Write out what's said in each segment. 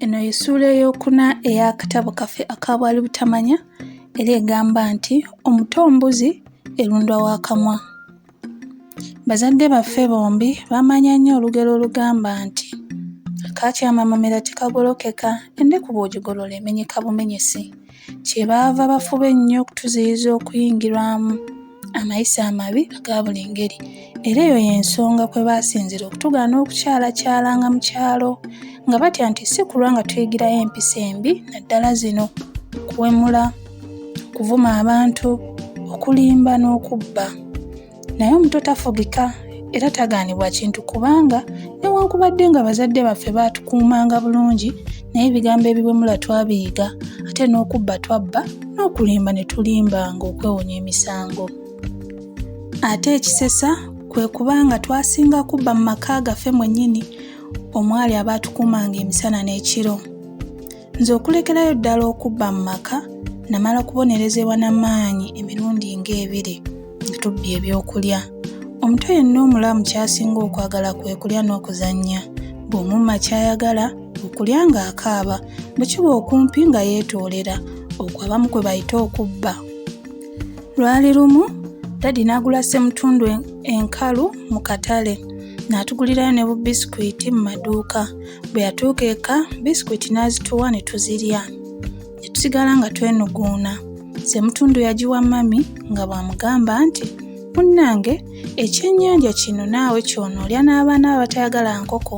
Eno ye ssuula ey'okuna ey'akatabo kaffe aka Bwali Butamanya era egamba nti omuto mbuzi erundwa wa kamwa. Bazadde baffe bombi baamanya nnyo olugero olugamba nti akaakyama amamera tekagolokeka, endeku bw'ogigolola emenyeka bumenyesi. kyebaava bafuba ennyo okutuziyiza okuyingirwamu amayisa amabi aga buli ngeri era eyo y'ensonga kwe baasinzira okutugaana okukyalakyalanga mu kyalo nga batya nti si kulwa nga tuyigirayo empisa embi naddala zino okuwemula okuvuma abantu okulimba n'okubba naye omuto tafugika era tagaanibwa kintu kubanga newankubadde nga bazadde baffe baatukuumanga bulungi naye ebigambo ebiwemula twabiyiga ate n'okubba twabba n'okulimba ne tulimbanga okwewonya emisango ate ekisesa kwe kuba nga twasinga kubba mu maka gaffe mwennyini omwali abaatukuumanga emisana n'ekiro Nze okulekerayo ddala okubba mu maka namala kubonerezebwa na maanyi emirundi ng'ebiri nga tubbye ebyokulya. Omuto yenna omulamu kyasinga okwagala kwe kulya n'okuzannya. Bw'omumma ky'ayagala okulya ng'akaaba, bwe kiba okumpi nga yeetoolera, okwo abamu kwe bayita okubba. Lwali lumu dadi n'agula ssemutundu enkalu mu katale n'atugulirayo ne bubisikwiti mu maduuka. Bwe yatuuka eka bisikwiti n'azituwa ne tuzirya ne tusigala nga twenuguuna. Ssemutundu yagiwa mami nga bw'amugamba nti, Munnange ekyennyanja kino naawe ky'onoolya n'abaana bo abatayagala nkoko,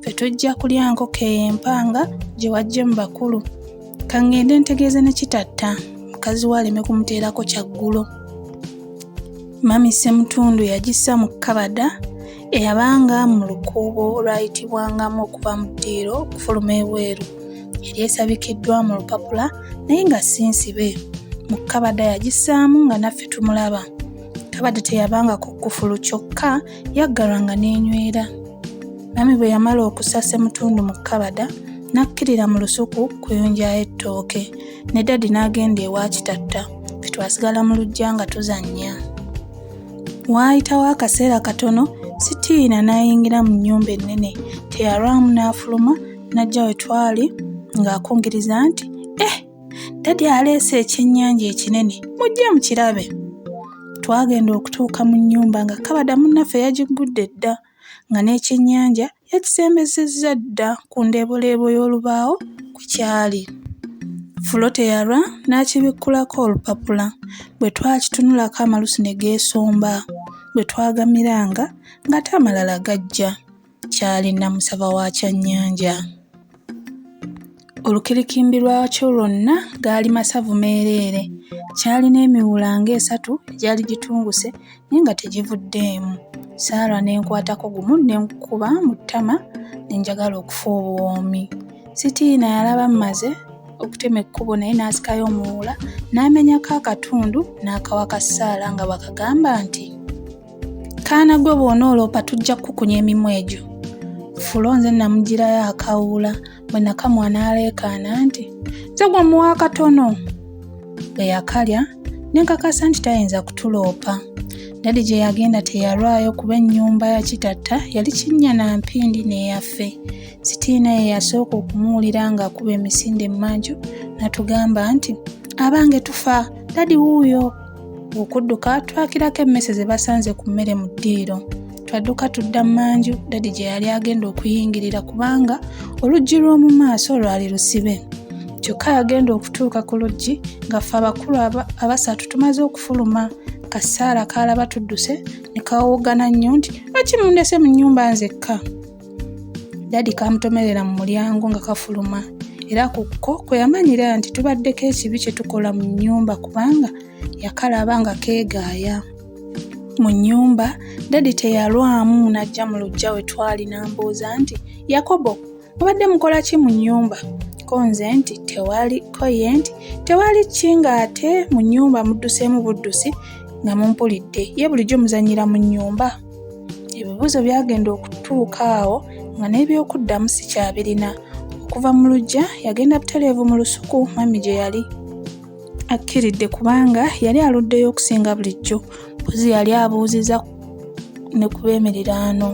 ffe tujja kulya nkoko eyo empanga gye waggye mu bakulu. Ka ŋŋende ntegeeze ne Kitatta mukazi we aleme kumuteerako kyaggulo. Mami Ssemutundu yagissa mu kkabada Eyabanga mu lukuubo olwayitibwangamu okuva mu ddiiro okufuluma ebweru yali esabikiddwa mu lupapula naye nga si nsibe. Mu kkabada yagissaamu nga naffe tumulaba. Kkabada teyabanga ku kkufulu kyokka yaggalwanga n'enywera. Mami bwe yamala okussa ssemutundu mu kkabada n'akkirira mu lusuku kuyunjayo ettooke ne dadi n'agenda ewa Kitatta ffe twasigala mu luggya nga tuzannya. Waayitawo akaseera katono Sitiina n'ayingira mu nnyumba ennene. Teyalwamu n'afuluma n'ajja we twali ng'akungiriza nti, Eh, dadi aleese ekyennyanja ekinene, mujje mukirabe. Twagenda okutuuka mu nnyumba nga kabada munnaffe yagiggudde dda. nga n'ekyennyanja yakisembezezza dda ku ndeeboleebo y'olubaawo kwe kyali. Fulo teyalwa n'akibikkulako olupapula. Bwe twakitunulako amalusu ne geesomba. Bwe twagamiranga ng'ate amalala gajja. Kyali Namusaba wa kyannyanja. Olukirikimbi lwakyo lwonna gaali masavu meereere. Kyalina emiwula ng'esatu egyali gitunguse naye nga tegivuddeemu. Saala ne nkwatako gumu ne nkukuba mu ttama ne njagala okufa obuwoomi. Sitiina yalaba mmaze okutema ekkubo naye n'asikayo omuwuula n'amenyako akatundu n'akawa ka Saala nga bw'akagamba nti. kaana gwe bw'onooloopa tujja kukukunya emimwa egyo fulo nze namugirayo akawuula bwe nakamwa n'aleekaana nti nze gwe muwa akatono bwe yakalya ne nkakasa nti tayinza kutuloopa dadi gye yagenda teyalwayo kuba ennyumba ya kitatta yali kinnya na mpindi n'eyaffe sitiina ye yasooka okumuwulira ng'akuba emisinde emmanju natugamba nti abange tufa dadi wuuyo okudduka twakirako emmese ze basanze ku mmere mu ddiiro twadduka tudda mmanju dadi gye yali agenda okuyingirira kubanga oluggi lw'omu maaso lwali lusibe kyokka yagenda okutuuka ku luggi ngaffe abakulu abasatu tumaze okufuluma kasaala kaalaba tudduse ne kawoogana nnyo nti lwaki mundese mu nnyumba nzekka dadi kamutomerera mu mulyango nga kafuluma era ku ko kwe yamanyira nti tubaddeko ekibi kye tukola mu nnyumba kubanga yakalaba nga keegaaya mu nnyumba dadi teyalwamu n'ajja mu lujja we twali n'ambuuza nti yakobo mubadde mukola ki mu nnyumba ko nze nti tewali ko ye nti tewali ki ng'ate mu nnyumba mudduseemu buddusi nga mumpulidde ye bulijjo muzannyira mu nnyumba ebibuuzo byagenda okutuuka awo nga n'ebyokuddamu sikyabirina okuva mu lujja yagenda butereevu mu lusuku mami gye yali akkiridde kubanga yali aluddeyo okusinga bulijjo mpozi yali abuuziza ne ku b'emiriraano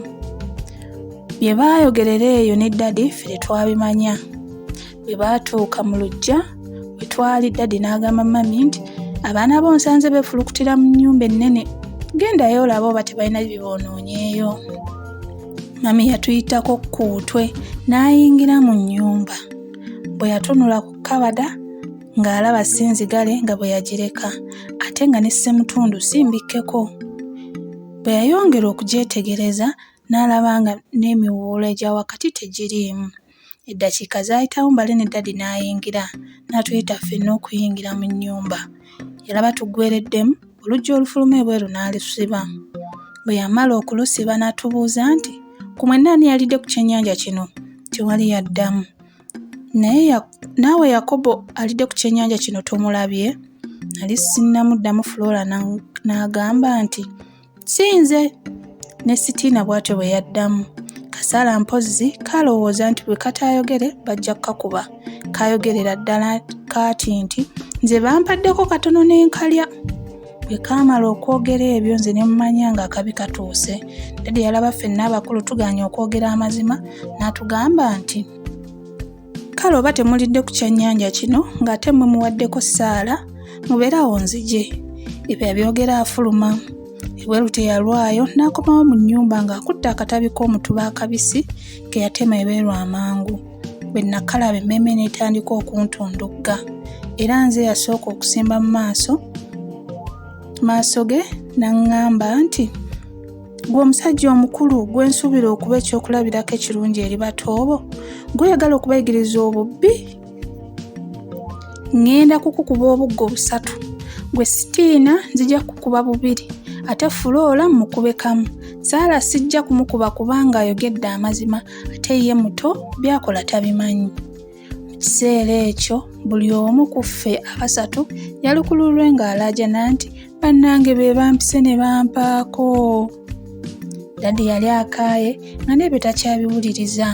bye baayogerera eyo ne ddadi ffe tetwabimanya bwe baatuuka mu luggya we twali dadi n'agamba mami nti abaana bo nsanze beefulukutira mu nnyumba ennene gendayo olaba oba tebalina biboonoonyeeyo mami yatuyitako ku utwe n'ayingira mu nnyumba bwe yatunula ku kabada ng'alaba si nzigale nga bwe yagireka ate nga ne ssemutundu si mbikkeko bwe yayongera okugyetegereza n'alaba nga n'emiwuula egya wakati tegiriimu Eddakiika zaayitawo Mbale ne Ddadi n'ayingira n'atuyita ffenna okuyingira mu nnyumba. Yalaba tuggwereddemu, oluggi olufuluma ebweru n'alusiba. Bwe yamala okulusiba n'atubuuza nti, ku mwenna ani yalidde ku kyennyanja kino? Tewali yaddamu. Naye naawe Yakobo alidde ku kyennyanja kino tomulabye? Nali sinnamuddamu Flora n'agamba nti, si nze ne sitiina bw'atyo bwe yaddamu kasala mpozzi kalowooza nti bwe kataayogere bajja kukakuba kayogerera ddala kaati nti nze bampaddeko katono n'enkalya bwe kaamala okwogera ebyo nze ne mumanya ng'akabi katuuse dadi yalaba ffenna abakulu tuganye okwogera amazima n'atugamba nti kale oba temulidde ku kyennyanja kino ng'ate mwe muwaddeko ssaala mubeere awo nzije ebyo abyogera afuluma ebweru teyalwayo n'akomawo mu nnyumba ng'akutte akatabi k'omutuba akabisi ke yatema ebeeru amangu bwe nakalaba emmeeme n'etandika okuntundugga era nze yasooka okusimba mu maaso maaso ge n'aŋŋamba nti Gwe omusajja omukulu gwe nsuubira okuba ekyokulabirako ekirungi eri batoobo, gweyagala okubayigiriza obubbi? Ngenda kukukuba obuggo busatu, gwe sitiina nzija kukuba bubiri, ate fuloola mukube kamu. Saala sijja kumukuba kubanga ayogedde amazima ate ye muto byakola tabimanyi. Mu kiseera ekyo buli omu ku ffe abasatu yalukululwe ng'alaajana nti, Bannange be bampise ne bampaako! Dadi yali akaaye nga n'ebyo takyabiwuliriza.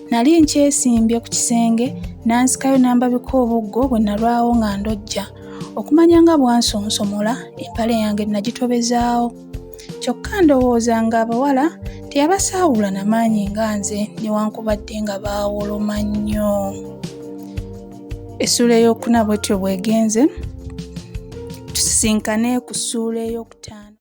Nali nkyesimbye ku kisenge n'ansikayo n'ambabika obuggo bwe nalwawo nga ndojja. Okumanya nga bwansonsomola, empale yange nagitobezaawo. kyokka ndowooza ng'abawala teyabasaawula na maanyi nga nze newankubadde nga baawoloma nnyo essuula ey'okuna bwetyo bwegenze tusisinkane ku ssuula ey'okutaano